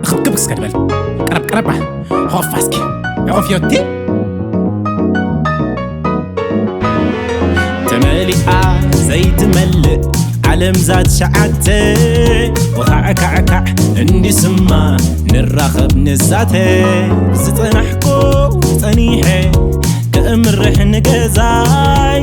ክብክብ እስከ ድበል ቀረብ ቀረብ ሆፋ እስኪ ኦፍዮቲ ተመሊኣ ዘይትመልእ ዓለም ዛት ሸዓተ ወኻዕካዕካዕ እንዲስማ ንራኸብ ንዛተ ዝጸናሕኮ ጸኒሐ ከእምርሕ ንገዛይ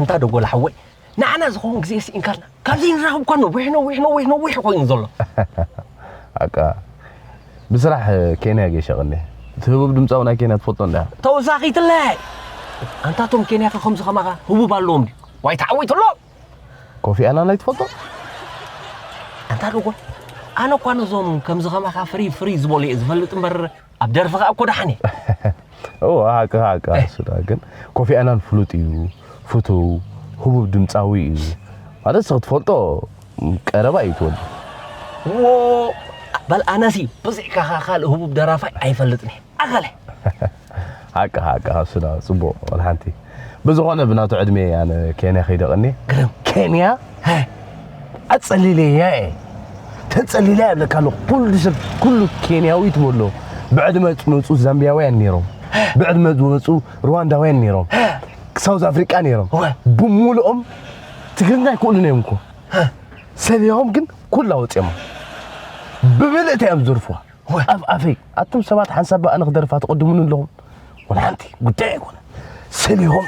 ኣንታ ደጎል ሓወይ ንዓና ዝኸውን ግዜ ስኢንካልና ካብዚ ንራኸብ እኳ ነዊሕ ነዊሕ ነዊሕ ነዊሕ ኮይኑ ዘሎ ኣቃ ብስራሕ ኬንያ ገሸቕኒ እቲ ህቡብ ድምፃዊ ናይ ኬንያ ትፈልጦ እንዳ ተወሳኺትለ ኣንታ እቶም ኬንያ ከ ከምዚ ከማኻ ህቡብ ኣለዎም ድዩ ዋይ ተዓዊቱ ኣሎ ኮፊ ኣናን ኣይትፈልጦ ኣንታ ደጎል ኣነ እኳ ነዞም ከምዚ ከማኻ ፍሪ ፍሪ ዝበሉ እየ ዝፈልጥ እምበር ኣብ ደርፊ ከኣ እኮ ደሓን እየ እወ ሃቅኻ ሃቅኻ ንሱ ደኣ ግን ኮፊ ኣናን ፍሉጥ እዩ ፍቱው ህቡብ ድምፃዊ እዩ ማለት ንስኺ ትፈልጦ ቀረባ እዩ ትወዲ ዎ በል ኣነሲ ብዘይካኻ ካልእ ህቡብ ደራፋይ ኣይፈልጥን እየ ኣኸለ ሃቅኻ ሃቅኻ ንሱ ደኣ ፅቡቕ ወላ ሓንቲ ብዝኮነ ብናቱ ዕድሜ እየ ኣነ ኬንያ ከይደ ቀኒ ግርም ኬንያ ኣጸሊለያ እየ ተጸሊላ የብለካ ኣሎ ኩሉ ሰብ ኩሉ ኬንያዊ ትበሎ ብዕድመ ዝመፁ ዛምቢያውያን ነይሮም ብዕድመ ዝመፁ ሩዋንዳውያን ነይሮም ሳውዝ ኣፍሪቃ ነይሮም ብምሉኦም ትግርኛ ኣይክእሉን እዮም እኮ ሰብያዎም ግን ኩላ ወፂኦማ ብምልእታ እዮም ዝርፍዋ ወይ ኣፍ ኣፈይ ኣቱም ሰባት ሓንሳብ ብኣልኽ ደርፋ ትቕድሙኒ ኣለኹም ወላ ሓንቲ ጉዳይ ኣይኮነ ሰሊሆም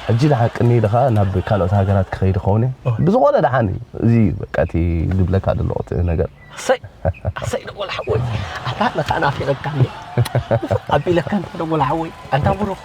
ሕጂ ደሓን ቅኒ ኢልኻ ናብ ካልኦት ሃገራት ክኸይድ ኸውን ብዝኾነ ደሓን እዚ በቃ እቲ ዝብለካ ደለኹ እቲ ነገር ኣሰይ ኣሰይ ደጎል ሓወይ ኣታ ነታ ናፊቐካኒ ኣቢለካ እንተ ደጎል ሓወይ ኣንታ ብሩኽ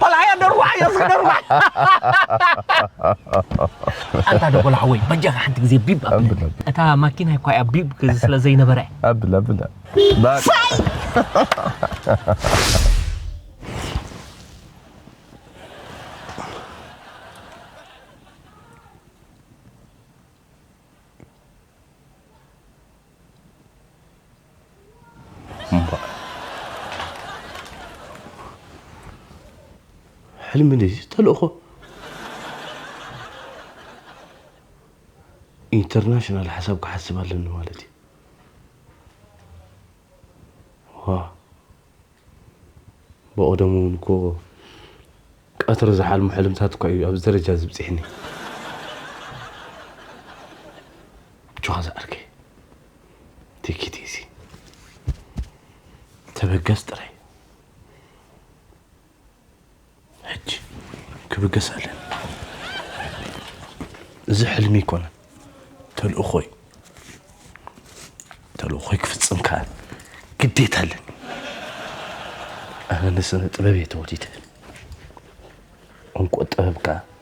ፓላሃያ ደርጓዕ እዮ እስኪ ደርጓዕ ኣንታ ደጎላ ሓወይ በጃኻ ሓንቲ ግዜ ቢብ ኣብለኒ እታ ማኪናይ እኳ እያ ቢብ ስለ ዘይነበረ ኣብል ኣብል እምባእ ሕልሚ ድዩ ተልእኾ? ኢንተርናሽናል ሓሳብ ክሓስብ ኣለኒ ማለት እዩ። ዋ ብቀደሙ ውን እኮ ቀትሪ ዝሓልሞ ሕልምታት እኳ እዩ ኣብዚ ደረጃ እዚ ኣብጺሕኒ። ኣጆኻ ዝዓርከይ take it easy ተበገስ ጥራይ። ሕጂ ክብገስ ኣለኒ እዚ ሕልሚ ኣይኮነን ተልእኾ እዩ ተልእኾይ ክፍጽም ከኣ ግዴታ ኣለኒ ኣነ ንስነ ጥበብ እየ ተወሊደ እንኮ ጥበብ ከኣ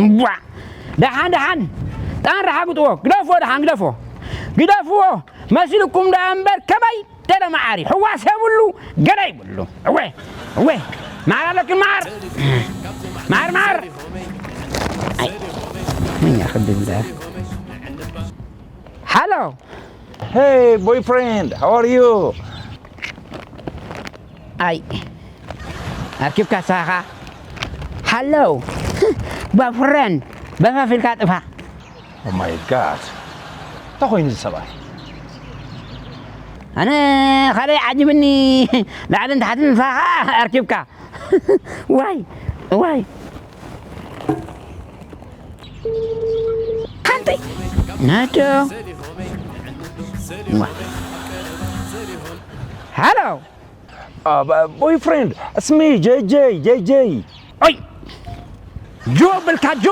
እንቧዕ ደሓን ደሓን ጣን ረሓግጥዎ ግደፍዎ ደሓን ግደፍዎ ግደፍዎ መሲልኩም ደኣ እምበር ከመይ ገለ መዓር ሕዋስ የብሉ ገለ ይብሉ እወ እወ መዓር ኣለኪ መዓር መዓር መዓር መኛ ክድብል ደኣ ሃሎ Hey, boyfriend, how are you? ኣይ ኣርኪብካ ንስኻ ኸኣ ሓለው ባፍረን በፈፍ ኢልካ ጥፋ ኦ ማይ ጋድ እንታይ ኮይኑ እዚ ሰብኣይ ኣነ ካልይ ዓጅብኒ ላዕልን ታሕትን ንስኻ ኸኣ ኣርኪብካ ዋይ ዋይ ሓንተይ ናዶ ሃሎ ቦይ ፍሬንድ እስሚ ጀይጀይ ጀይጀይ ኦይ ጆ ብልካ ጆ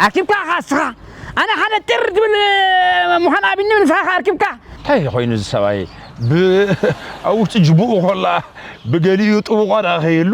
ኣርኪብካ ኢኻ እስኻ ኣነ ሓደ ጥር ትብል ምዃን ኣብኒ ንስኻ ኸ ኣርኪብካ እንታይ ኮይኑ እዚ ሰብኣይ ኣብ ውሽጢ ጅቡኡ ኮላ ብገሊኡ ጥቡቋ ደኣ ከይህሉ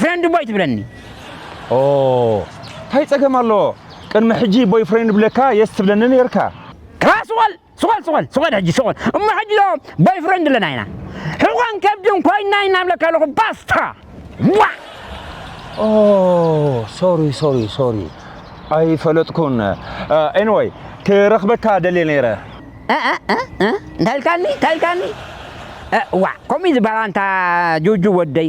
ፍሬንድ ቦይ ትብለኒ ኦህ ታይ ፀገም ኣለዎ ቅድሚ ሕጂ ቦይ ፍሬንድ ብለካ የስ ትብለኒ ነይርካ። ክላእ ስቆል ስቆል ስቆል ስቆል ሕጂ ስቆል እሞ ሕጂ ዶ ቦይ ፍሬንድ ኣለና ኢና ሕቆን ከብድን ኮይና ኢና እብለካ ኣለኩ ባስታ ዋእ ኦህ ሶሪ ሶሪ ሶሪ ኣይፈለጥኩን ኤኒወይ ክረክበካ ደልየ ነይረ። እንታይ ኢልካኒ እንታይ ኢልካኒ ዋእ ከምኡ እዩ ዝበሃል ኣንታ ጁጁ ወደይ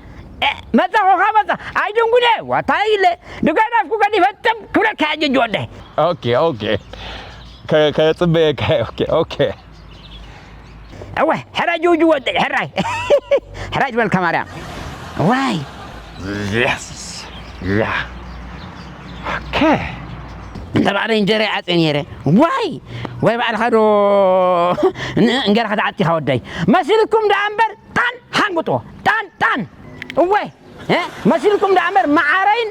መጻኹ ካብ መጻ ኣይድንጉነ ዋታይ ኢለ ድጋዳፍኩ ገዲፈ ጥብ ክብለካ ሕጂ እጅ ወደይ ኦኬ ኦኬ ከጽበየካ ኦኬ ኦኬ እወ ሕራይ ጅውጅ ወደይ ሕራይ ሕራይ ዝበልካ ማርያም ዋይ Yes. Yeah. Okay. እንተ ባዕለይ እንጀራ ይዓፀ ነይረ ዋይ ወይ ባዕልኻ ዶ እንገርካ ተዓጢኻ ወደይ መሲልኩም ደኣ እምበር ጣን ሓንግጦ ጣን ጣን እወ መሲልኩም ደኣ እምበር መዓረይን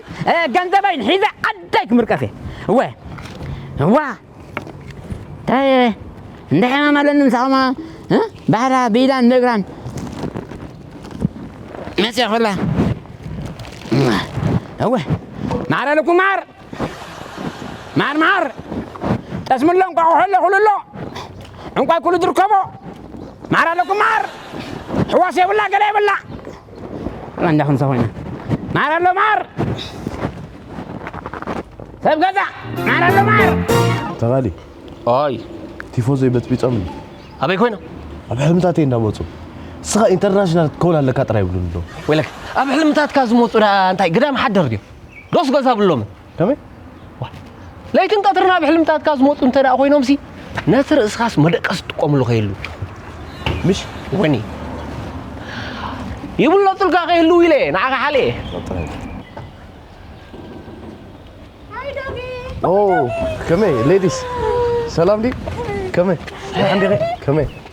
ገንዘበይን ሒዘ ዓደይ ክምርቀፍ እየ እወ እዋ እንታይ እንደ ሕማም ኣለኒ ምሳኹማ ባሕራ ብኢዳን ብእግራን መፅያ ኮላ እወ ማዕረ ልኩም ማር መዓር መዓር ጠስምሎ እንቋቑሖ ኣሎ ኩሉ ኣሎ ዕንቋይ ኩሉ ዝርከቦ መዓር ኣለኩም መዓር ሕዋስ የብላ ገለ የብላ እንዳ ክንሰ ኮይና መዓር ኣሎ መዓር ሰብ ገዛ መዓር ኣሎ መዓር ተኻሊ ኣይ ቲፎዞ ይበፅቢፆም እዩ ኣበይ ኮይኖም ኣብ ሕልምታተይ እንዳመፁ ንስኻ ኢንተርናሽናል ክትከውን ኣለካ ጥራይ ይብሉኒ ኣለዉ ወይለክ ኣብ ሕልምታትካ ዝመፁ ደኣ እንታይ ግዳም ሓደር ድዮም ዶስ ገዛ ኣብሎምን ከመይ ለይትን ቀትርን ኣብ ሕልምታትካ ዝመፁ እንተ ደኣ ኮይኖምሲ ነቲ ርእስኻስ መደቀስ ትጥቀምሉ ከየሉ ምሽ ወኒ ይብለጡልካ ከየሉ ኢለ ንዓኻ ሓለ ኦ ከመይ ሌዲስ ሰላም ዲ ከመይ ከመይ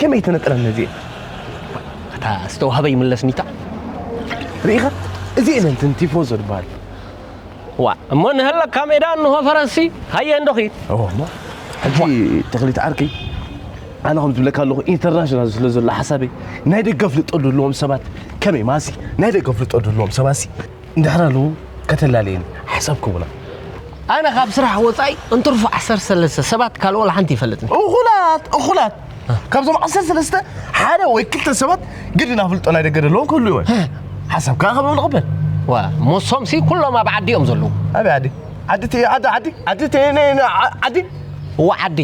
ከመይ ተነጥረን እዚኤን ኣታ ዝተዋህበ ይምለስ ሚታ ርኢኻ እዚኤን እንትን ቲፎዞ ዝበሃል ዋ እሞ ንህለካ ሜዳ እንሆ ፈረንሲ ሃየ እንዶ ኺድ እዎ እሞ ሕጂ ተኽሊት ዓርከይ ኣነ ከም ዝብለካ ኣለኹ ኢንተርናሽናል ስለ ዘሎ ሓሳበይ ናይ ደገ ኣፍልጦ ዘለዎም ሰባት ከመይ ማሲ ናይ ደገ ኣፍልጦ ዘለዎም ሰባሲ እንድሕር ኣሉ ከተላለየኒ ሓሳብ ክቡላ ኣነ ካብ ስራሕ ወፃኢ እንትርፉ ዓሰርተ ሰለስተ ሰባት ካልኦ ሓንቲ ይፈልጥኒ እኹላት እኹላት ካብዞም ዓሰርተ ሰለስተ ሓደ ወይ ክልተ ሰባት ግዲ ናፍልጦ ናይ ደገ ዘለዎም ክህሉ ይወ ሓሳብ ከዓ ከብኡ ንቕበል ዋ ሞሶም ሲ ኩሎም ኣብ ዓዲ እዮም ዘለዉ ኣበይ ዓዲ ዓዲ ቲ ዓዲ ዓዲ ዓዲ ቲ ዓዲ እዋ ዓዲ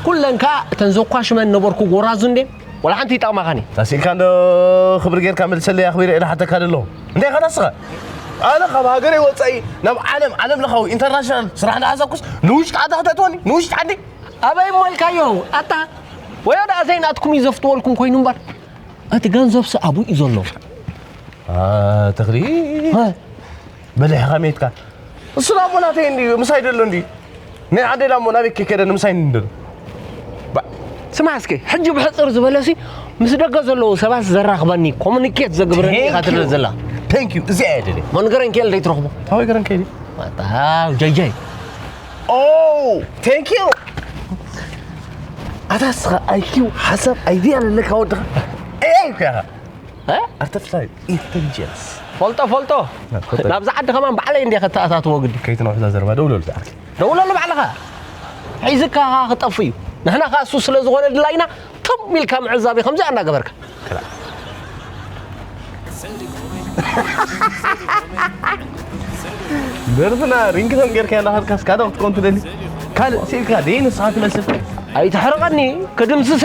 ኩለን ከዓ እተን ዘኳሽመን ነበርኩ ጎራዙ እንዴ ወላ ሓንቲ ይጠቕማኻን እዩ ተስኢልካ እንዶ ክብሪ ጌርካ መልሰለይ ኣኽቢረ ኢለ ሓተካ ደሎ እንታይ ኢኻ ንስኻ ኣነ ካብ ሃገረይ ወፃኢ ናብ ዓለም ዓለም ለኻዊ ኢንተርናሽናል ስራሕ እንዳሓሳብኩስ ንውሽጢ ዓዲ ክተእትወኒ ንውሽጢ ዓዲ ኣበይ እሞ ኢልካዮ ኣታ ወዮ ደኣ ዘይናትኩም እዩ ዘፍትወልኩም ኮይኑ እምበር እቲ ገንዘብሲ ኣብኡ እዩ ዘሎ ተኽሊ በሊሕ ከመይ ኢትካ እሱ ላሞ ናተይ እንዲ ምሳይ ደሎ እንዲ ናይ ዓደይ ላሞ ናበይ ከይከደ ንምሳይ እንዲ ደሎ ስማዕ እስኪ ሕጂ ብሕፅር ዝበለሲ ምስ ደገ ዘለዉ ሰባት ዘራኽበኒ ኮሙኒኬት ዘግብረኒ ኢኻ ትደለ ዘላ ቴንክ ዩ እዚኣ እየ ደልየ መንገረን ከል ዘይትረኽቦ ኣበይ ገረን ከይዲ ዋጣው ጀይጀይ ኦ ቴንክ ዩ ኣታ ስኻ ኣይኪው ሓሳብ ኣይድያ ኣለካ ወድኻ ኤይ ኢልኩ ኢኻ ኣርተፍሻል ኢንተሊጀንስ ፈልጦ ፈልጦ ናብዚ ዓዲ ከማን ባዕለይ እንደ ከተኣታትዎ ግዲ ከይትነውሕዛ ዘረባ ደውለሉ ዝዓርኪ ደውለሉ ባዕልኻ ሒዝካ ኸዓ ክጠፍ እዩ ንሕና ከዓ እሱ ስለ ዝኾነ ድላይና ትም ኢልካ ምዕዛብ እዩ ከምዚኣ እናገበርካ ደርፍና ሪንግቶን ጌርካ ናኸድካ እስካ ዶ ክትኮን ትደሊ ካልእ ስኢልካ ደይ ንስኻ ትመስል ኣይትሕርቐኒ ክድምስሰ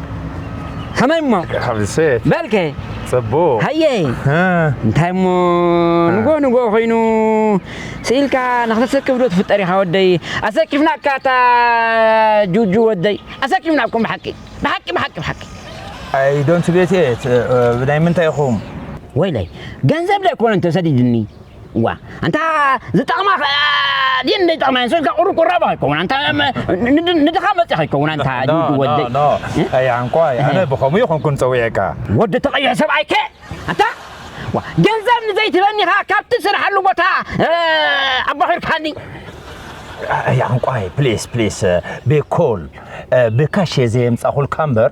ከመይ እሞ ሓብሰት በልከ ጽቡቕ ሃየ እንታይ እሞ ንጎ ንጎ ኮይኑ ስኢልካ ንክተሰክፍ ዶ ትፍጠር ኢኻ ወደይ ኣሰኪፍና እካ እታ ጁጁ ወደይ ኣሰኪፍና እኩም ብሓቂ ብሓቂ ብሓቂ ብሓቂ ኣይ ዶንት ጌት ኢት ብናይ ምንታይ ኢኹም ወይለይ ገንዘብ ዶ ኣይኮነ እንተ ሰዲድኒ ዋ ኣንታ ዝጠቕማ ድየን ዘይጠቕማየን ሰ ኢልካ ቁሩብ ቁራብ ኣይከውን ኣንታ ንድኻ መፅእ ከይከውን ኣንታ ጁዱ ወደይ ኣያንኳይ ኣነ ብኸምኡ ይኹንኩን ፀዊዐካ ወዲ ተቐይሐ ሰብኣይ ከ ኣንታ ገንዘብ ንዘይትበኒኻ ካብቲ ስርሓሉ ቦታ ኣባኺርካኒ ኣያንኳይ ፕሊስ ፕሊስ ብኮል ብካሽ እየ ዘየምፃኹልካ እምበር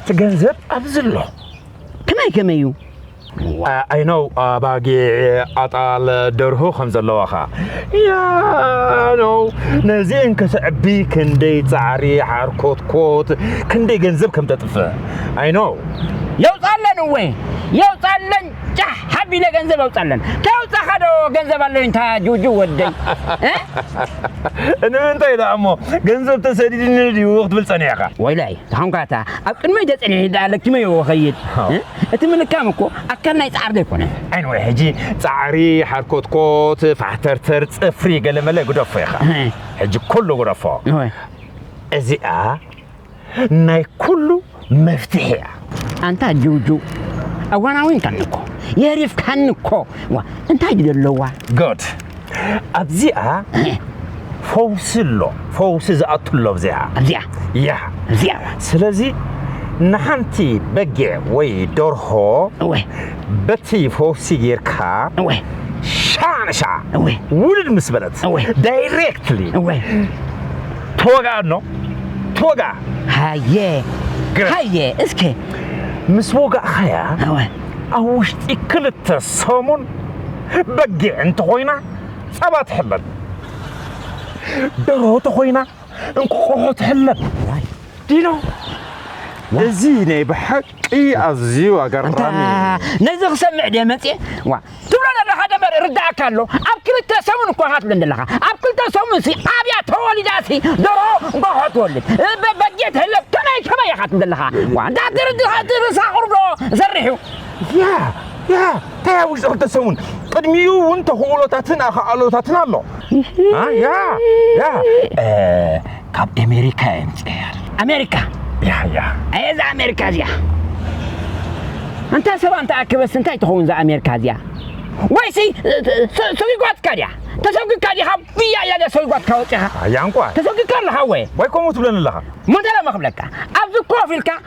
እቲ ገንዘብ ኣብዚ ኣሎ ከመይ ከመይ እዩ I know ኣባጊዕ ኣጣል ደርሁ ከም ዘለዋኻ ያኖ ነዚአን ከተዕቢ ክንደይ ጻዕሪ ሓርኮትኮት ክንደይ ገንዘብ ከም ተጥፍእ I know የውጻለን እወ የውጻለን ጫሕ ሓቢለ ገንዘብ ኣውፃለን ከውፃኻ ዶ ገንዘብ ኣሎ እንታ ጁጁ ወደይ ንምንታይ ደኣ እሞ ገንዘብ ተሰዲድኒ ድዩ ክትብል ፀኒሕኻ ወይላይ ተኾንካታ ኣብ ቅድመይ ተፀኒሒ ደኣ ለኪመዮ ወኸይድ እቲ ምልካም እኮ ኣካል ናይ ፃዕሪ ዘይኮነ ዓይን ወይ ሕጂ ፃዕሪ ሓርኮትኮት ፋሕተርተር ፅፍሪ ገለመለ ግደፎ ኢኻ ሕጂ ኩሉ ግደፎ እዚኣ ናይ ኩሉ መፍትሒ እያ። ኣንታ ጁጁ ኣዋናዊንካኒ እኮ የሪፍካኒ እኮ ዋ እንታይ ድዩ ዘለዋ good ኣብዚኣ ፈውሲ ኣሎ ፈውሲ ዝኣቱ ኣሎ ኣብዚኣ ኣብዚኣ ያ እዚኣ ስለዚ ንሓንቲ በጊዕ ወይ ደርሆ እወ በቲ ፈውሲ ጌርካ እወ ሻዕ ንሻዕ እወ ውልድ ምስ በለት እወ ዳይሬክትሊ እወ ተወግኣኖ ተወግኣ ሃየ ግረ ሃየ እስከ ምስ ወጋእኻያ እወ ኣብ ውሽጢ ክልተ ሰሙን በጊዕ እንተኾይና ጸባ ትሕለብ ደርሆ ተኾይና እንቁቁሖ ትሕለብ ዋይ ዲኖ እዚ ናይ ብሓቂ እይ ኣዝዩ ኣገራሚ ነዚ ክሰምዕ ድየ መፅየ ዋ ትብሎ ዘለኻ ደበር ርዳእካ ኣሎ ኣብ ክልተ ሰሙን እኳ ኻትብል ዘለኻ ኣብ ክልተ ሰሙን ሲ ኣብያ ተወሊዳ ሲ ደሮ እንኳ ትወልድ በጊዕ ትህለብ ከመይ ከመይ ኢኻ ትብል ዘለኻ ዋ እንዳ ትርሳቑርዶ ዘርሕ እዩ ያ ያ እንታይ ኣብ ውሽጢ ክልተ ሰሙን ቅድሚኡ እውን ተኽእሎታትን ኣኽኣሎታትን ኣሎ ያ ያ ካብ ኣሜሪካ እየ ምፅያ ኣሜሪካ ያ ያ ኣየ እዛ ኣሜሪካ እዚኣ እንታ ሰባ እንተ ኣክበስ እንታይ ትኸውን እዛ ኣሜሪካ እዚኣ ወይሲ ሰዊጓትካ ድያ ተሰዊግካ ዲኻ ብያ ኢላ ድያ ሰዊጓትካ ወፂኻ ኣያ እንኳ ተሰዊግካ ኣለኻ ወየ ወይ ከምኡ ትብለኒ ኣለኻ ሞተለ መክብለካ ኣብዚ ኮፍ ኢልካ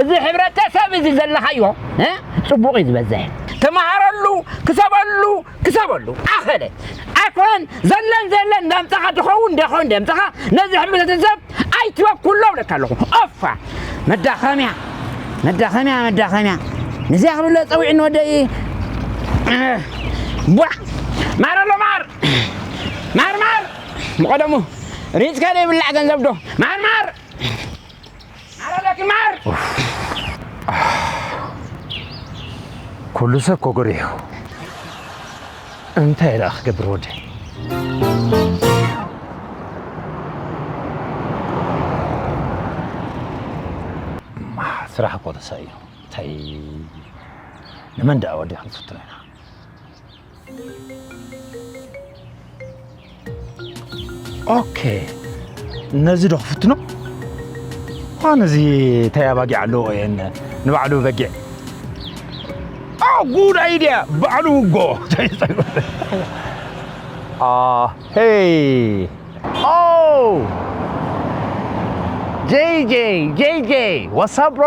እዚ ሕብረተሰብ እዚ ዘለኻዮ ጽቡቕ እዩ ዝበዝሕ ተመሃረሉ ክሰበሉ ክሰበሉ ኣኸለ ኣይኮነን ዘለን ዘለን እንዳምጻኻ ድኸውን ደኾን ደምጻኻ ነዚ ሕብረተሰብ ኣይትበኩሎ እብለካ ኣለኹ ኦፋ መዳኸምያ መዳኸምያ መዳኸምያ ንዚያ ክብለ ጸዊዕ ንወደይ ቧዕ ማር ኣሎ ማር ማር ማር ምቐደሙ ሪፅካ ዘይብላዕ ገንዘብ ዶ ማር ማር ኩሉ ሰብ ኮጎሪሑ እንታይ ደኣ ክገብር ወደይ ስራሕ እኮ ተሳኢኑ እንታይ ንመን ደኣ ወዲኻ ክንፍትኖ ኢና ኦኬ ነዚ ዶ ክፍትኖ ኳን እዚ እንታይ ኣባጊዕ ኣለዎ እየን ንባዕሉ በጊዕ ጉድ ኣይድያ ባዕሉ ውጎ ሄይ ኦ ጄይ ጄይ ጄይ ጄይ ዋትሳፕ ብሮ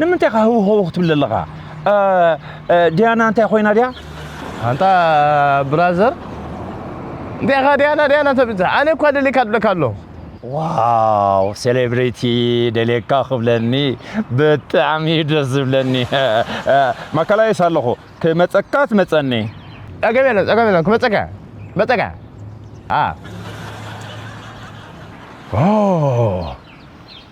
ንምንታይ ኢኻ ህው ህው ክትብል ዘለኻ? ዲያና እንታይ ኮይና ድያ? ኣንታ ብራዘር እንታይ ኢኻ ዲያና ዲያና ተብል ዘለኻ? ኣነ እኳ ደልየካ እብለካ ኣለኹ። ዋው ሴሌብሪቲ ደልየካ ክብለኒ ብጣዕሚ እዩ ደስ ዝብለኒ። ማእከላይስ ኣለኹ ክመፀካ ትመፀኒ። ጸገም የለን ጸገም የለን ክመፀካ መፀካ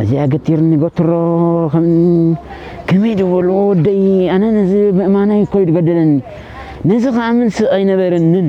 እዚኣ ገቲርኒ ገትሮ ከመይ ዝበልዎ ወደይ ኣነ ነዚ ምእማነይ እኮ እዩ ዝገደለኒ ነዚ ክኣምን ስቕ ኣይነበረንን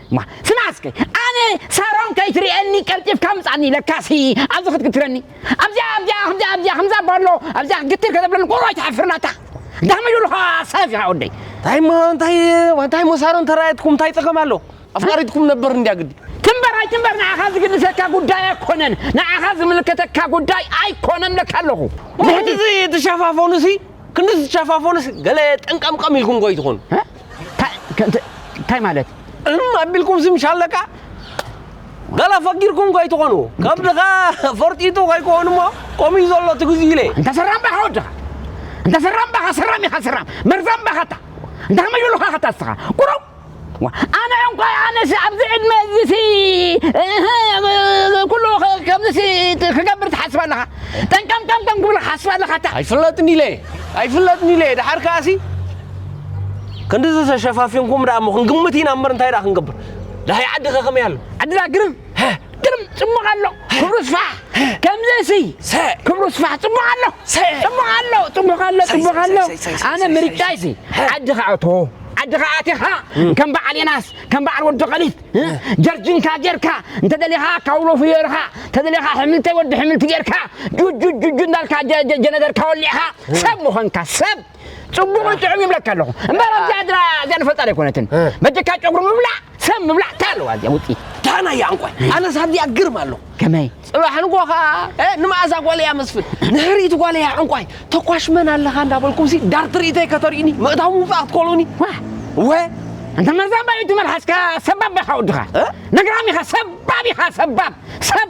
እማ ስማዕ እስከ ኣነ ሳሮን ከይትርእየኒ ቀልጢፍካ ምጻኒ ለካሲ ኣብዚ ክትግትረኒ ኣብዚኣ ኣብዚኣ ከምዚኣ ኣብዚኣ ከምዛ ባሎ ኣብዚኣ ክትግትር ከተብለኒ ቁሮ ኣይትሓፍርን ኣታ ዳሕመ ይብሉኻ ሰብ ኢኻ ወደይ እንታይ እሞ እንታይ እንታይ እሞ ሳሮን ተራእየትኩም እንታይ ጸገም ኣሎ ኣፍቃሪትኩም ነበር እንድያ ግዲ ትንበር ኣይትንበር ንዓኻ ዝግድሰካ ጉዳይ ኣይኮነን ንዓኻ ዝምልከተካ ጉዳይ ኣይኮነን ለካ ኣለኹ ብሕቲ ክንድዚ ትሸፋፈኑሲ ክንድዚ ትሸፋፈኑሲ ገለ ጠንቀምቀም ኢልኩም ጎይ ትኾኑ እንታይ ማለት እም ኣቢልኩም ዝምሽ ኣለካ ገላ ፈጊርኩም ከይትኾኑ ከብድኻ ፈርጢጡ ከይኮኑ እሞ ከምኡ እዩ ዘሎ እቲ ግዜ ኢለ እንተ ሰራም ባኻ ወድኻ እንተ ሰራም ባኻ ሰራም ኢኻ ሰራም መርዛም ባኻታ እንተ ከመይ በሉኻ ኸታ እስኻ ቁረው ኣነ እንኳይ ኣነሲ ኣብዚ ዕድመ እዚሲ ኩሉ ከምዚሲ ክገብር ትሓስብ ኣለኻ ጠንቀምቀምቀም ክብልካ ሓስብ ኣለኻ እታ ኣይፍለጥን ኢለ ኣይፍለጥን ኢለ ደሓር ከኣሲ ክንድዚ ተሸፋፊንኩም ደኣ እሞ ክንግምት ኢና እምበር እንታይ ደኣ ክንገብር ደሃይ ዓዲ ከ ከመይ ኣሎ ዓድና ግርም ግርም ፅቡቕ ኣሎ ክብሩ ስፋሕ ከምዚ እሲ ክብሩ ስፋሕ ፅቡቕ ኣሎ ፅቡቕ ኣሎ ፅቡቕ ኣሎ ፅቡቕ ኣሎ ኣነ ምርጫይ ሲ ዓድኻ ኣቶ ዓድኻ ኣቲኻ ከም በዓል የናስ ከም በዓል ወዲ ቀሊት ጀርጅንካ ጌርካ እንተደሊኻ ካውሎ ፍዮርኻ እንተደሊኻ ሕምልተይ ወዲ ሕምልቲ ጌርካ ጁጁጁጁ እንዳልካ ጀነደርካ ወሊዕኻ ሰብ ምኾንካ ሰብ ፅቡቕን ጥዑም ይብለካ ኣለኹ እምበር ኣብዚኣ ድራ እዚኣ ንፈልጣ ዘይኮነትን እ። በጀካ ጨጉሪ ምብላዕ ሰብ ምብላዕ እንታይ ኣለዋ እዚኣ ውፅኢት ዳና እያ እንቋይ ኣነስ ኣብዚኣ ግርም ኣለኹ ከመይ ጽባሕ ንጎ ከዓ እ፣ ንመኣዛ ጓል እያ መስፍን ንሕርኢት ጓል እያ ዕንቋይ ተኳሽ መን ኣለኻ እንዳበልኩም ሲ ዳር ትርኢተይ ከተርእዩኒ ምእታው ምውፃእ ክትኮሉኒ ዋ ወ እንተ መርዛባ እዩ ትመልሓስካ ሰባብ ኢኻ ወድኻ እ? ነግራም ኢኻ ሰባብ ኢኻ ሰባብ ሰብ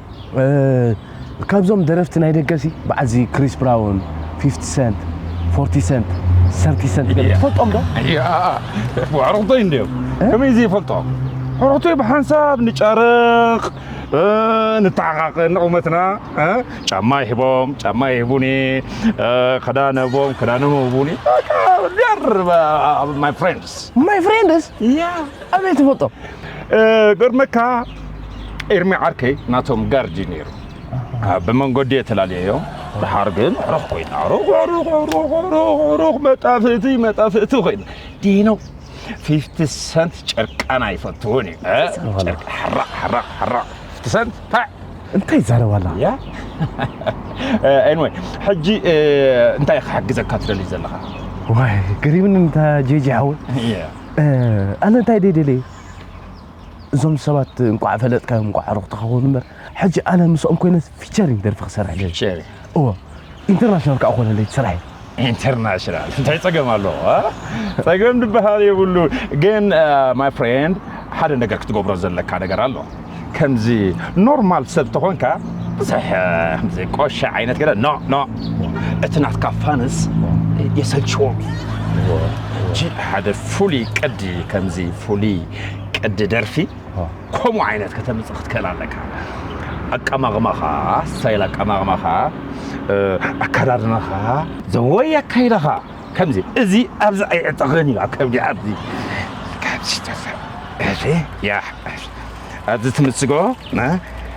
ካብዞም ደረፍቲ ናይ ደገሲ በዓልዚ ክሪስ ብራውን፣ ፊፍቲ ሰንት፣ ፎርቲ ሰንት፣ ሰርቲ ሰንት ገለ ትፈልጦም ዶ? ኣዕሩኽተይ እንድዮም ከመይ ዘይፈልጦም ኣዕሩኽተይ ብሓንሳብ ንጫረቕ ንተሓቓቐ ንቑመትና ጫማ ይህቦም ጫማ ይህቡኒ ክዳን ህቦም ክዳኖም ይህቡኒ ማይ ፍሬንድስ ማይ ፍሬንድስ ኣበይ ትፈልጦም ገርመካ ኤርሚ ዓርከይ ናቶም ጋርድ እዩ ነይሩ ብመንገዲ የተላለየዮ ድሓር ግን ሩኽ ኮይና ሩኽ ሩኽ ሩኽ ሩኽ ሩኽ መጣፍእቲ መጣፍእቲ ኮይኑ ዲኖ ፊፍቲ ሰንት ጨርቃና ይፈትውን እዩ ጨርቂ ሓራቕ ሓራቕ ሓራቕ ፊፍቲ ሰንት ታዕ እንታይ ይዛረባላ ያ ኤንወይ ሕጂ እንታይ ክሓግዘካ ትደሊ ዘለኻ ዋይ ገሪብኒ እንታ ጄጂ ሓወይ ኣነ እንታይ ደይ ደልየ እዞም ሰባት እንቋዕ ፈለጥካዮም እንቋዕ ኣዕሩኽትኻ ኮኑ እምበር ሕጂ ኣነ ምስኦም ኮይነ ፊቸሪንግ ደርፊ ክሰርሕ ደሊ ፊቸሪ እዎ ኢንተርናሽናል ከዓ ኮነለይ ስራሕ ኢንተርናሽናል እንታይ ፀገም ኣለዎ ፀገም ድበሃል የብሉ ግን ማይ ፍሬንድ ሓደ ነገር ክትገብሮ ዘለካ ነገር ኣሎ ከምዚ ኖርማል ሰብ ተኾንካ ብዙሕ ከምዚ ቆሸ ዓይነት ገለ ኖ ኖ እቲ ናትካ ፋንስ የሰልችዎም እዩ ሕጂ ሓደ ፍሉይ ቅዲ ከምዚ ፍሉይ ቅዲ ደርፊ ከምኡ ዓይነት ከተምፅእ ክትክእል ኣለካ ኣቀማቕማኻ ስታይል ኣቀማቕማኻ ኣከዳድናኻ ዘወይ ኣካይዳኻ ከምዚ እዚ ኣብዚ ኣይዕጠቕን እዩ ኣብ ከብዲ ኣብዚ ኣብዚ ትምስጎ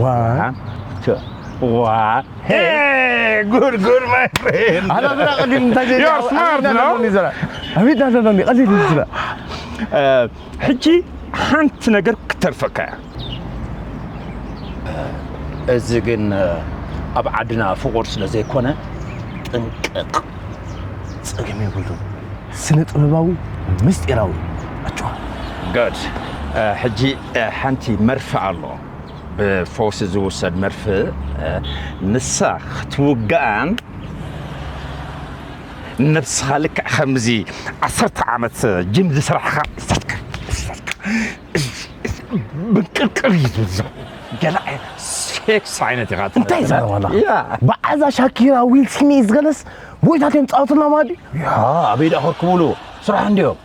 ዋ ዋ ሄ ጉድ ጉድ ማይ ፍሬንድ ኣላ ብራ ቀሊል እንታይ ዘይ ዩ ስማርት ነው ኣቤት ኣለሎኒ ቀሊል ዝላ ሕጂ ሓንቲ ነገር ክተርፈካ እያ እዚ ግን ኣብ ዓድና ፍቑር ስለ ዘይኮነ ጥንቅቕ ጸገም የብሉን ስነ ጥበባዊ ምስጢራዊ ኣቸዋ ገድ ሕጂ ሓንቲ መርፍእ ኣሎ ብፈውሲ ዝውሰድ መርፍእ ንሳ ክትውግኣን ነብስኻ ልክዕ ከምዚ ዓሰርተ ዓመት ጅም ዝስራሕኻ እሰትካ እሰትካ ብንቅርቅር እዩ ዝብሎ ገለ ዓይነት ሴክስ ዓይነት ኢኻ እንታይ ትፈልጥ። ዘረባ ኣለኻ ያ በዓዛ ሻኪራ ዊል ስሚዝ ገለስ ጎይታት እዮም ፃወትና ማዲ ያ ኣበይ ደኣ ከርክብሉ ስራሕ እንድዮም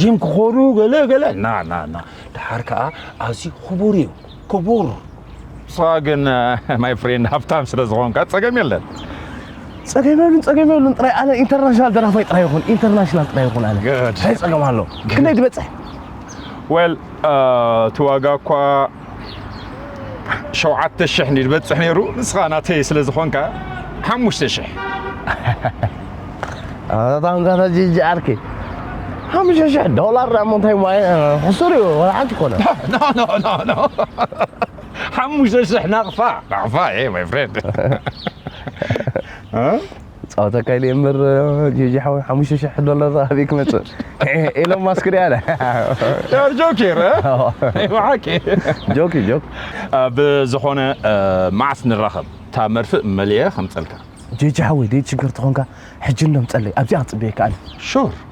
ጂም ክኾዱ ገለ ገለ ና ና ና ድሓር ከዓ ኣዝዩ ክቡር እዩ ክቡር ንስኻ ግን ማይ ፍሬንድ ሃብታም ስለ ዝኾንካ ፀገም የለን ጸገም የብሉን ጸገም የብሉን ጥራይ ኣነ ኢንተርናሽናል ደራፋይ ጥራይ ይኹን ኢንተርናሽናል ጥራይ ይኹን ኣነ Good. እንታይ ጸገም ኣሎ ክንደይ ትበጽሕ ዌል እቲ ዋጋ እኳ ሸውዓተ ሽሕ እንዲ ዝበጽሕ ነይሩ ንስኻ ናተይ ስለ ዝኾንካ ሓሙሽተ ሽሕ ኣታንዛና ጂጂ ዓርኪ ሓሙሽተ ሽሕ ዶላር ዳሞ እንታይ ማይ ሕሱር እዩ ወላ ሓንቲ ኮነ ሓሙሽተ ሽሕ ናቕፋ ናቕፋ እ ማይ ፍሬንድ ክጻወተካ ኢለ እምበር ጂጂ ሓወይ ሓሙሽተ ሽሕ ዶላር ኣበይ ክመጽእ ኤሎን ማስክ ድያ ኣለ ዩር ጆኪር ብሓቂ ጆኪ ጆክ ብዝኾነ መዓስ ንራኸብ እታ መርፍእ መልየ ከምጸልካ ጂጂ ሓወይ ደይ ትሽገር ተኾንካ ሕጂ እንዶ ምጸለይ ኣብዚኣ ክጽበየካ ኣለ ሹር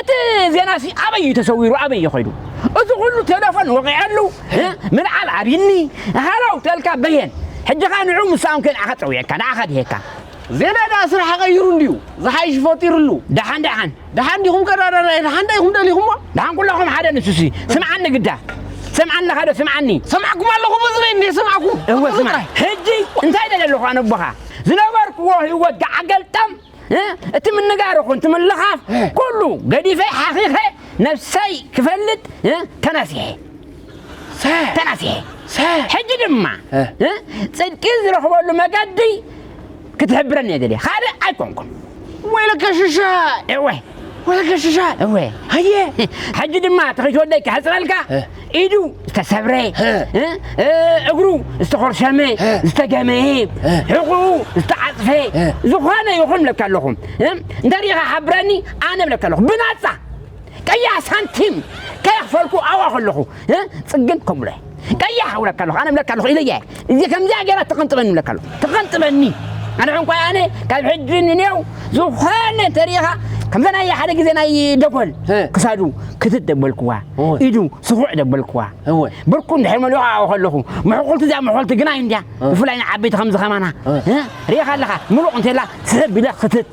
እቲ ዜናሲ ኣበይ እዩ ተሰዊሩ ኣበይ እዩ ኸይዱ እዚ ኩሉ ቴለፎን ወቒዐሉ ምልዓል ኣብይኒ ሃለው ተልካ በየን ሕጂኻ ንዑ ምሳኦም ከንዓኻ ጸዊዐካ ንዓኻ ድሄካ ዜና ደኣ ስራሕ ቀይሩ እንድዩ ዝሓይሽ ፈጢርሉ። ደሓን ደሓን ደሓን ዲኹም ቀዳዳናይ ደሓን ዳይኹም ደሊኹሞ ደሓን ኩላኹም ሓደ ንሱሲ ስምዓኒ ግዳ ሰምዓኒ ኣለኻ ዶ ስምዓኒ ሰማዕኩም ኣለኹ ብዝበይ እንዴ ሰማዕኩም እወ ስማዕ ሕጂ እንታይ ደለ ኣለኹ ኣነቦኻ ዝነበርክዎ ህይወት ገዓገልጠም እቲ ምንጋር ይኹን እቲ ምልኻፍ ኩሉ ገዲፈ ሓኺኸ ነብሰይ ክፈልጥ ተናሲሐ ተናሲሐ ሕጂ ድማ ጽድቂ ዝረኽበሉ መገዲ ክትሕብረኒ እየ ደልየ ካልእ ኣይኮንኩን ወይለከ ሽሻ እወ ወይለከ ሽሻ እወ ሃየ ሕጂ ድማ እቲ ከይትወደይ ክሕጽረልካ ኢዱ ዝተሰብረ እግሩ ዝተኾርሸመ ዝተገመየ ሕቑኡ ዝተዓፅፈ ዝኾነ ይኹን ብለካ ኣለኹ እንተሪኢኻ ሓብረኒ ኣነ ብለካ ኣለኹ ብናፃ ቀያሕ ሳንቲም ከየኽፈልኩ ኣብኣ ከለኹ ፅግን ከምብሎ ቀያሕ ብለካ ኣለኹ ኣነ ብለካ ኣለኹ ኢለየ እዚ ከምዚኣ ገይራ ተኸንጥበኒ ይብለካ ኣሎ ተኸንጥበኒ ኣነ ዕንቋይ ኣነ ካብ ሕጂ ንኔው ዝኾነ ተሪኻ ከምዛ ናይ ሓደ ግዜ ናይ ደጎል ክሳዱ ክትት ደበልክዋ ኢዱ ስኹዕ ደበልክዋ ብርኩ እንድሕር መሊኹ ዓኡ ከለኹ ምሕቁልቲ እዚኣ ምሕቁልቲ ግናይ እንድያ ብፍላይ ንዓበይቲ ከምዚ ከማና ሪኢኻ ኣለኻ ምሉቕ እንተላ ስሕብ ኢለ ክትት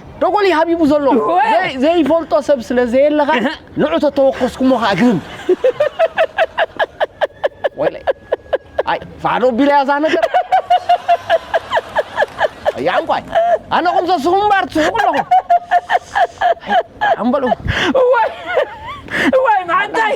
ደጎሊ ሃቢቡ ዘሎ ዘይፈልጦ ሰብ ስለ ዘየለ ኸኣ ንዑ ተተወከስኩሞ ኸኣ ግርም ወይለይ ኣይ ፋዕዶ ኣቢላ እያ እዛ ነገር ኣያ ዕንቋይ ኣነኹም ዘስኹም እምበር ትስሕቁ ኣለኹም ኣምበሉ እዋይ እዋይ መዓንታይ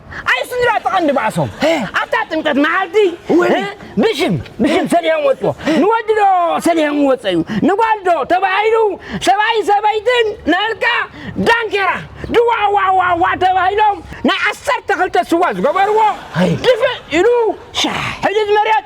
ኣይ ስድራ እቲ ቀንዲ ባእሶም ኣብታ ጥምቀት መዓልቲ ብሽም ብሽም ሰሊሆም ወፅዎ ንወዲ ዶ ሰሊሆም ወፀ እዩ ንጓል ዶ ተባሂሉ ሰብኣይ ሰበይትን ንእልካ ዳንኬራ ድዋዋዋዋ ተባሂሎም ናይ ዓሰርተ ክልተ ስዋ ዝገበርዎ ድፍእ ኢሉ ሕድድ መሬት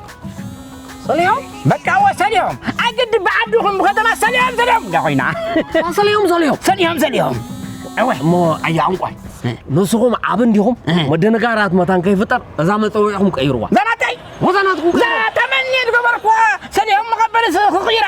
ሰሊሆም በቃ ወ ሰሊሆም ኣግድ ብዓዲ ኹም ብኸተማ ሰሊሆም ሰሊሆም እንዳ ኮይና ሰሊሆም ሰሊሆም ሰሊሆም ሰሊሆም እወ እሞ ኣያ ዕንቋይ ንስኹም ዓብ እንዲኹም መደነጋራት መታን ከይፍጠር እዛ መፀውዒኹም ቀይርዋ ዛናተይ ወዛናትኩም ዛ ተመኒ ዝገበርኩዋ ሰሊሆም መቐበል ክቕይራ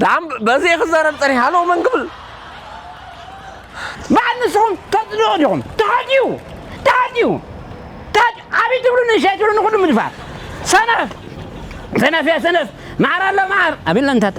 ድሓን በዚ ክዛረብ ጸኒሐ ኣለዎ መን ክብል በዓል ንስኹም ተጽልኡ ዲኹም ተሓዲኡ ተሓዲኡ ዓብይ ትብሉ ንእሽተይ ትብሉ ንኹሉ ምድፋር ሰነፍ ሰነፍ እያ ሰነፍ መዓር ኣሎ መዓር ኣቢልና ንታተ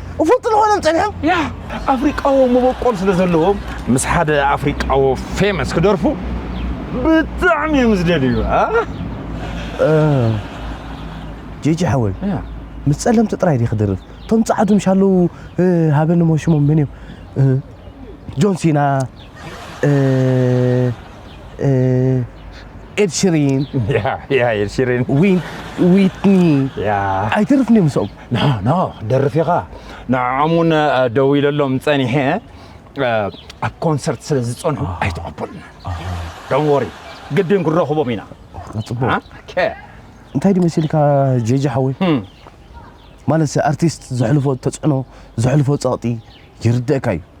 እፍልጡ ንኾኖም ጸኒሖም ያ ኣፍሪቃዎ መበቆል ስለ ዘለዎም ምስ ሓደ ኣፍሪቃዎ ፌመስ ክደርፉ ብጣዕሚ እዮም ዝደልዩ ጄጂ ሓወይ ምስ ጸለምቲ ጥራይ ዲ ክድርፍ እቶም ጻዕዱ ምሻለዉ ሃበኒ ሞ ሽሞም መን እዮም ጆን ሲና ኤድ ሽሪን ዊትኒ ኣይትርፍን እዮም ምስኦም ኖ ኖ ክትደርፍ ኢኻ ንዕዖም እውን ደዊለሎም ጸኒሐ ኣብ ኮንሰርት ስለ ዝጸንሑ ኣይተቐበሉን ዶን ወሪ ግድን ክንረኽቦም ኢና ጽቡቅ እንታይ ድዩ መሲልካ ጀጃ ሓወይ ማለት ኣርቲስት ዘሕልፎ ተጽዕኖ ዘሕልፎ ጸቕጢ ይርደእካ እዩ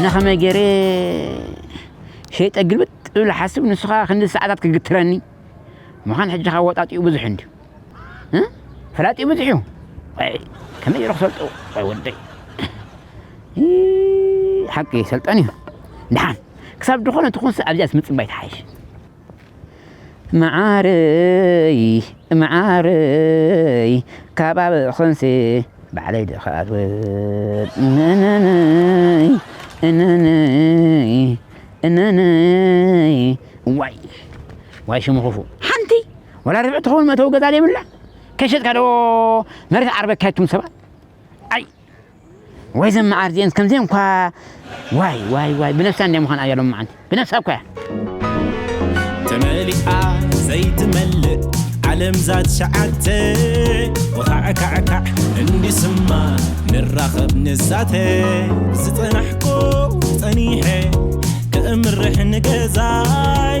ኣነ ከመይ ገይረ ሸይጠ ግልብጥ እብል ሓስብ ንስኻ ክንዲ ሰዓታት ክግትረኒ ምዃን ሕጂ ከወጣጢኡ ብዙሕ እንድዩ ፈላጢ ብዙሕ እዩ ከመይ ኢሉ ክሰልጡ ወይ ወደይ ሓቂ ሰልጠን እዩ ድሓን ክሳብ ዝኾነ ትኹንስ ኣብዚኣስ ምፅባይ ትሓይሽ መዓረይ መዓረይ ከባቢ ኽንሲ ባዕለይ ድኻ ኣትወድ እነነይ እነነይ እነነይ ዋይ ዋይ ሽሙ ክፉእ ሓንቲ ዋላ ርብዒ ትኸውን መእተዊ ገዛ ዘይብላ ከይሸጥካ ዶ መሬት ዓርበካ ይቱም ሰባት ኣይ ወይ ዘም መዓር ዚኤን ከምዘን እኳ ዋይ ዋይ ዋይ ብነፍሳ እንደ ምዃን ኣያ ሎም መዓንቲ ብነፍሳ እኳ እያ ተመሊኣ ዘይትመልእ ዓለም ዛት ሸዓተ ወኻዕካዕካዕ እንዲስማ ንራኸብ ንዛተ ዝጸናሕኮ ጸኒሐ ክእምርሕ ንገዛይ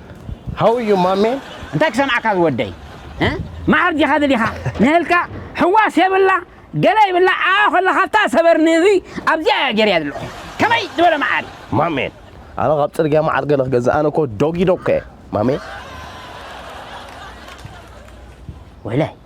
How are you ማሜ? እንታይ ክሰምዓካ ዝወደይ ማዓር ዲኻ ደሊኻ ንህልካ ሕዋስ የብላ ገለ ይብላ ዓዓ ኮላ ካብታ ሰበር ንህቢ ኣብዚኣ እያ ገርያ ዘለኹ ከመይ ዝበለ ማዓር እዩ። ማሜ ኣነ ካብ ጽርግያ ማዓር ገለ ክገዝእ ኣነ እኮ ዶጊ ዶግ እየ ማሜ። ወላይ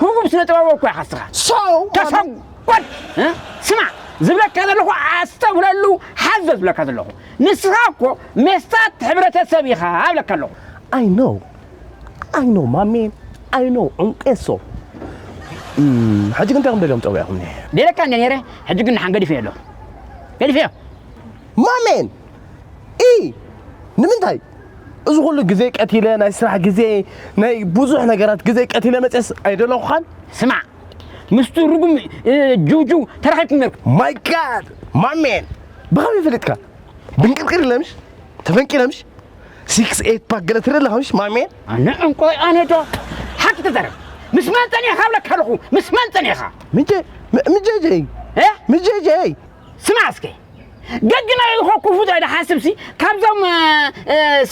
ህቡብ ስነ ጥበባዊ እኮ ኢኻ እስኻ ሰው ተሰጎድ እ? ስማዕ ዝብለካ ዘለኹ ኣስተብህለሉ ሓዞ ዝብለካ ዘለኹ ንስኻ እኮ ሜስታት ሕብረተሰብ ኢኻ እብለካ ኣለኹ I know I know ማሜ I know ዑንቄሶ እም፣ ሕጂ ግን እንታይ ከም ደልዮም ጠዊዕኹምኒ ደለካ እንደ ነይረ ሕጂ ግን ንሓን ገዲፈዮ ኣለኹ ገዲፈዮ ማሜን ኢ ንምንታይ እዚ ኩሉ ግዜ ቀቲለ ናይ ስራሕ ግዜ ናይ ብዙሕ ነገራት ግዜ ቀቲለ መፅስ ኣይደለኹኻን ስማዕ ምስቱ ርጉም ጅውጅው ተራኺብኩም ነርኩም ማይ ጋድ ማሜን ብኸመይ ፈሊጥካ ብንቅርቅር ለምሽ ተፈንቂለምሽ ሲክስ ኤት ፓክ ገለ ትርኢ ኣለኸምሽ ማሜን ኣነ እንቆይ ኣነ ዶ ሓቂ ተዛረብ ምስ መን ፀኒሕካ ብለካ ኣለኹ ምስ መን ፀኒሕካ ምጀ ምጀጀይ ምጀጀይ ስማዕ እስከ ገግና ኢልኮ ክፉእ ዘይድሓስብሲ ካብዞም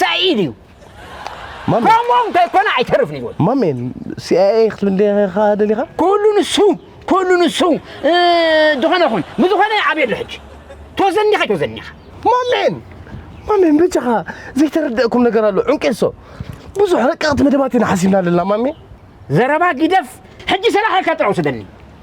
ሰኢድ እዩ ማሜ ከምኡ እንተይኮነ ኣይተርፍን ይብል ማሜ ሲኣይኤ ክትብል ዲኻ ደሊኻ ኩሉ ንሱ ኩሉ ንሱ እ፣ ዝኾነ ይኹን ብዝኾነ ኣብ የሎ ሕጂ ተወዘኒኻ ተወዘኒኻ ማሜን ማሜን በጃኻ ዘይተረድአኩም ነገር ኣሎ ዕንቄሶ ብዙሕ ረቀቕቲ መደባት ኢና ሓሲብና ኣለና ማሜ ዘረባ ጊደፍ ሕጂ ሰላሕ ኢልካ ጥራይ ውሰደኒ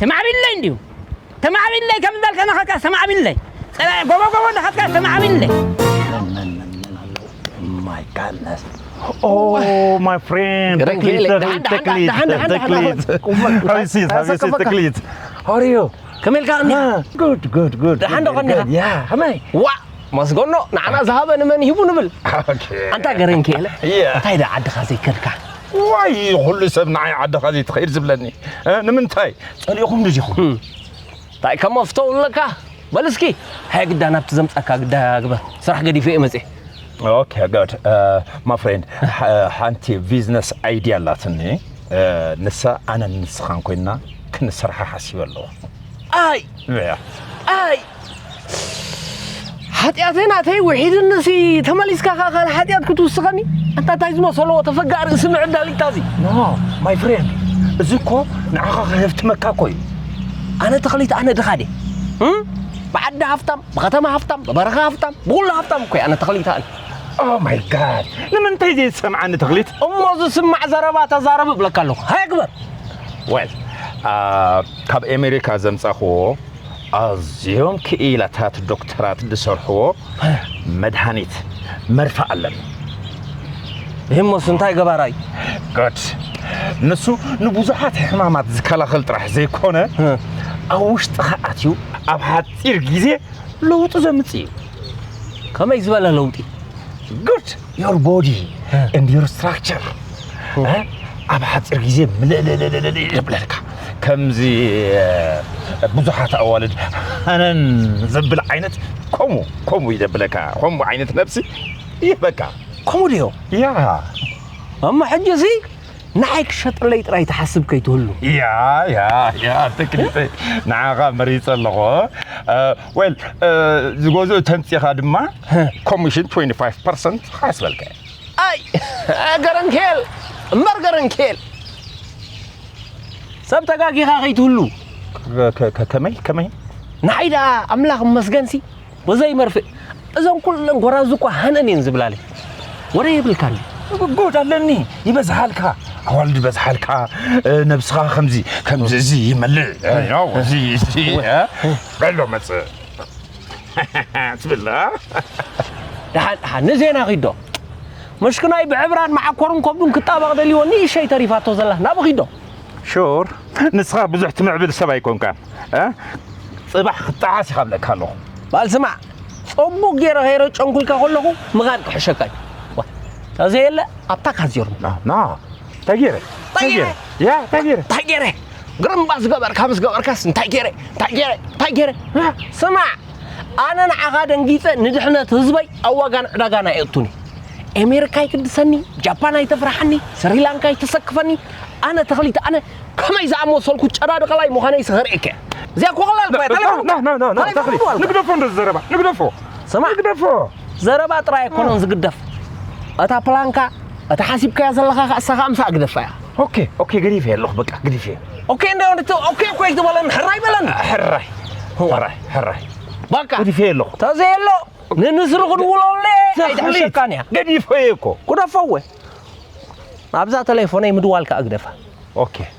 ተማዕቢለይ እንድዩ ተማዕቢለይ ከም ዝበልካ ናኻትካስ ተማዕቢለይ ጸላኢ ጎቦ ጎቦ ናኻትካስ ተማዕቢለይ my goodness. Oh, oh my friend. Teklit. Teklit. Teklit. How is it? How is it? Teklit. How are you? ከመልካ እኒ ጉድ ጉድ ጉድ ደሓን ዶ ኸኒኻ ያ ከመይ ዋእ መስገኖ ንዓና ዝሃበ ንመን ይህቡ ንብል ኣንታ ገረንኪ የለ እንታይ ደ ዓድኻ ዘይከድካ ዋይ ኹሉ ሰብ ንዓይ ዓድኻ ዘይትኸይድ ዝብለኒ እ ንምንታይ ጸሊእኹም ድዚኹም እንታይ ከም መፍተው ኣለካ በል እስኪ ሃየ ግዳ ናብቲ ዘምጻካ ግዳ ግበር ስራሕ ገዲፈ እየ መጽኤ ኦኬ ጋድ ማ ፍሬንድ ሓንቲ ቢዝነስ ኣይድያ ኣላትኒ ንሳ ኣነን ንስኻን ኮይንና ክንሰርሓ ሓሲበ ኣለኹ ኣይ ያ ኣይ ሓጢኣተይ ናተይ ውሒድንሲ ተመሊስካ ከዓ ካልእ ሓጢኣት ክትውስኸኒ ኣንታ እንታይ ዝመሰለዎ ተፈጋእ ርእሲ ምዕዳል ኢልካ እዚ ኖ ማይ ፍሬንድ እዚ እኮ ንዓኻ ከህፍትመካ እኮ እዩ ኣነ ተኽሊት ኣነ ድኻ ድየ ብዓዲ ሃፍታም ብከተማ ሃፍታም ብበረኻ ሃፍታም ብኩሉ ሃፍታም እኮ ኣነ ተኽሊት ኣነ ኦ ማይ ጋድ ንምንታይ ዘይትሰምዓኒ ተኽሊት እሞ ዝስማዕ ዘረባ ተዛረብ እብለካ ኣለኹ ሃይ ግበር ወል ካብ ኣሜሪካ ዘምጻኽዎ ኣዝዮም ክኢላታት ዶክተራት ዝሰርሕዎ መድሃኒት መርፍእ ኣለኒ። እሂሞስ እንታይ ገባራ እዩ? ጉድ! ንሱ ንብዙሓት ሕማማት ዝከላኸል ጥራሕ ዘይኮነ ኣብ ውሽጥኻ ኣትዩ ኣብ ሓጺር ግዜ ለውጢ ዘምጽእ እዩ። ከመይ ዝበለ ለውጢ? ጉድ! ዮር ቦዲ እንድ ዮር ስትራክቸር ኣብ ሓፂር ግዜ ምልእልእልእልእ ይብለልካ ከምዚ ብዙሓት ኣዋልድ ሃነን ዘብል ዓይነት ከምኡ ከምኡ ይደብለካ ከምኡ ዓይነት ነብሲ ይህበካ ከምኡ ድዮ ያ እሞ ሕጂ እዚ ንዓይ ክሸጠለይ ጥራይ ትሓስብ ከይትህሉ ያ ያ ያ ተክሊተይ ንዓኻ መሪፀ ኣለኹ ዌል ዝገዝኡ ተምፂኻ ድማ ኮሚሽን 25 ፐርሰንት ሓስበልካ እየ ኣይ ገረንኬል እምበር ገረንኬል ሰብ ተጋጊኻ ከይትህሉ ከመይ ከመይ ንዓይ ደኣ ኣምላኽ መስገንሲ ወዘይ መርፍእ እዞም ኩለን ጎራዙ እኳ ሃነን እየን ዝብላለ ወረ የብልካን ጉድ ኣለኒ ይበዝሓልካ ኣዋልድ ይበዝሓልካ ነብስኻ ከምዚ ከምዚ እዚ ይመልእ እዚ በሎ መጽእ ትብል እ? ደሓን ደሓን ንዜና ኺዶ መሽክናይ ብዕብራን መዓኮርን ከብዱን ክጣበቕ ደልዎ ንእሸይ ተሪፋቶ ዘላ ናብ ኺዶ ሹር ንስኻ ብዙሕ ትምዕብል ሰብ ኣይኮንካን እ? ጽባሕ ክትጠዓስ ኢኻ ብለካ ኣለኹ ባል ስማዕ ጸቡቕ ገይረ ኸይረ ጨንኩልካ ከለኹ ምኻድ ክሕሸካ እዩ ተዘየለ ኣብታ ካዚርም ና ተጌረ ተጌረ ያ ተጌረ እንታይ ገይረ ግርምባ ዝገበርካ ምስ ገበርካስ እንታይ ገይረ እንታይ ገይረ እንታይ ገይረ ስማዕ ኣነ ንዓኻ ደንጊፀ ንድሕነት ህዝበይ ኣብ ዋጋን ዕዳጋን ኣይእቱን እዩ ኣሜሪካ ኣይትድሰኒ ጃፓን ኣይተፍርሓኒ ስሪላንካ ኣይተሰክፈኒ ኣነ ተኽሊት ኣነ ከመይ ዝኣመሰልኩ ጨዳድቐላይ ምዃነ ይስኸርእከ እዚኣ ኮቕላል ባይ ተሌፎን ተሌፎን ንግደፎ እንደዚ ዘረባ ንግደፎ ስማዕ ንግደፎ ዘረባ ጥራይ ኣይኮነን ዝግደፍ እታ ፕላንካ እታ ሓሲብካያ ዘለኻ ከ እሳ ከኣ ምሳኣ ግደፋ እያ ኦኬ ኦኬ ገዲፈ ኣለኹ በቃ ገዲፈ ኦኬ እንደ ወንድቲ ኦኬ እኮ ኣይትበለኒ ሕራይ በለኒ ሕራይ ሕራይ ሕራይ በቃ ገዲፈ ኣለኹ ተዘየሎ ንንስሪ ክድውለሉ እየ ኣይትሕሸካን እያ ገዲፈ እየ እኮ ጉደፈወ ኣብዛ ተሌፎነይ ምድዋል ከኣ ግደፋ ኦኬ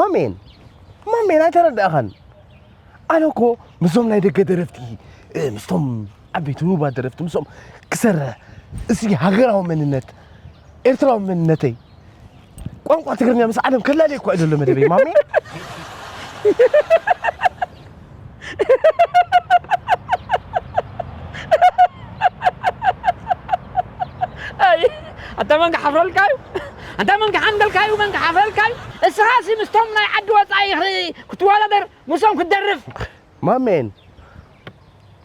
ማሜን ማሜን ኣይተረዳእኻን ኣነ እኮ ምስዞም ናይ ደገ ደረፍቲ ምስቶም ዓበይቲ ህቡባት ደረፍቲ ምስኦም ክሰርሕ እዚ ሃገራዊ መንነት ኤርትራዊ መንነተይ ቋንቋ ትግርኛ ምስ ዓለም ከላልየ እኳ እዩ ዘሎ መደበይ ማሜ ኣታ መን ክሓፍረልካ እዩ ኣታ መን ክሓንደልካ እዩ መን ክሓፍረልካ እዩ እስኻ ሲ ምስቶም ናይ ዓዲ ወፃኢ ክትወዳደር ምስኦም ክትደርፍ ማሜን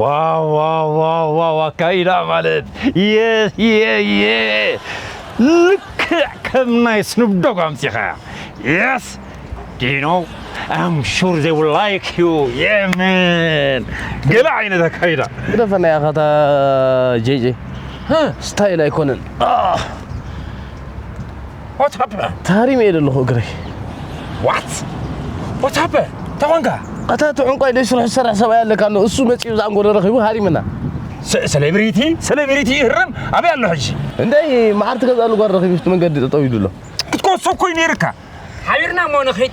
ዋው ዋው ዋው ዋው ኣካይዳ ማለት የየየ ልክዕ ከም ናይ ስኑብዶግ ኣምፂኻያ የስ ዲኖ ኣም ሹር ዘይ ውል ላይክ ዩ የመን ገለ ዓይነት ኣካይዳ ግደፈና ያኸታ ጄጄ ስታይል ኣይኮነን What happened? ታሪም እየ ዘለኹ እግረይ What? What happened? ተኾንካ ኣታ እቲ ዕንቋይ ደይ ስርሑ ዝሰርሕ ሰብኣይ ኣለካ ኣሎ እሱ መፂኡ ዝኣንጎሎ ረኺቡ ሃሪምና ሴሌብሪቲ ሴሌብሪቲ ይህረም ኣበይ ኣሎ ሕጂ እንደይ መዓር ትገዝኣሉ ጓል ረኺቡ ኣብቲ መንገዲ ጠጠው ኢሉ ኣሎ ክትኮሶ እኮ እዩ ነይርካ ሓቢርና እሞ ንኺድ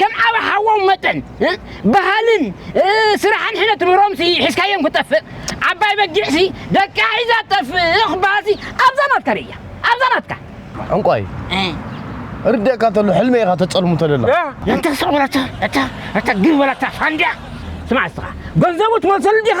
ከም ዓቢ ሓዎም መጠን በሃልን ስራሕ ሕነ ትምህሮምሲ ሒዝካዮም ክጠፍእ ዓባይ በጊዕሲ ደቃ ሒዛ ትጠፍእ ክበሃልሲ ኣብዛ ናትካ ርእያ ኣብዛ ናትካ ዕንቋይ እርደካ እንተሎ ሕልመ ኢኻ ተጸልሙ ተለላ እንተ ሰቑረታ እታ እታ ግርበላታ ፋንድያ ስማዕ እስኻ ገንዘቡ ትመልሰሉ ዲኻ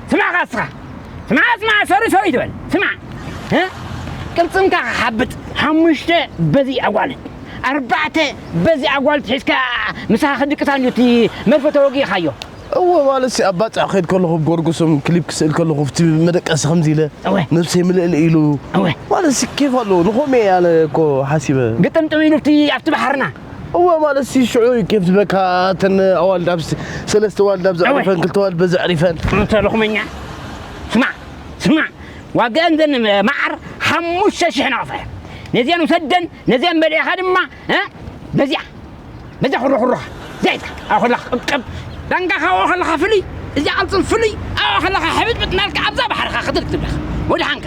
ስማዕ ካ እስኻ ስማዕ ስማዕ ሰሪ ሰሪ ትበል ስማዕ ቅልፅምካ ክሓብጥ ሓሙሽተ በዚ ኣጓልት ኣርባዕተ በዚ ኣጓልት ሒዝካ ምሳኻ ክድቅሳ እንዲዩ እቲ መርፈ ተወጊእኻዮ እወ ማለት ኣብ ባፅዕ ክኸይድ ከለኹ ጎርጎሶም ክሊፕ ክስእል ከለኹ ብቲ መደቀሲ ከምዚ ኢለ እወ። ነብሰይ ምልእል ኢሉ እወ። ማለት ኬፍ ኣለዎ ንኸምኡ እየ ኣነ እኮ ሓሲበ ግጥምጥም ኢሉ ኣብቲ ኣብቲ ባሕርና እወ ማለት ሲ ሽዑ ኬፍ ዝበካ እተን ኣዋልድ ኣብ ሰለስተ ዋልድ ኣብ ዘዕሪፈን ክልተ ዋልድ በዚ ኣዕሪፈን እንተ ልኹመኛ ስማዕ ስማዕ ዋጋን ዘን መዓር ሓሙሽተ ሽሕ ናቕፈ ነዚኣን ውሰደን ነዚኣን በሊዕኻ ድማ በዚኣ በዚያ ኩርኹርኻ ዛይታ ኣብ ከለኻ ቅብቅብ ዳንጋኻ ኣብኡ ከለኻ ፍልይ እዚያ ቅልፅም ፍልይ ኣብኡ ከለኻ ሕብጥብጥ ናልካ ኣብዛ ባሕርኻ ክትርክ ትብለኻ ወድሓንካ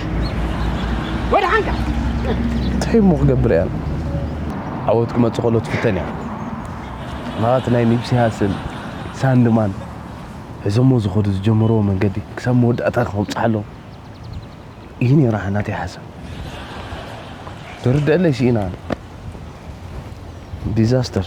ወድሓንካ እንታይ እሞ ክገብር እያ ዓወት ክመጽእ ከሎ ትፍተን እያ ማለት ናይ ኒፕሲ ሃስል ሳንድማን ሒዞሞ ዝኸዱ ዝጀመርዎ መንገዲ ክሳብ መወዳእታ ክኸብጽሓ ኣለዎም እዩ ነይሩ ናተይ ሓሳብ ትርድአለይ ስኢና ዲዛስተር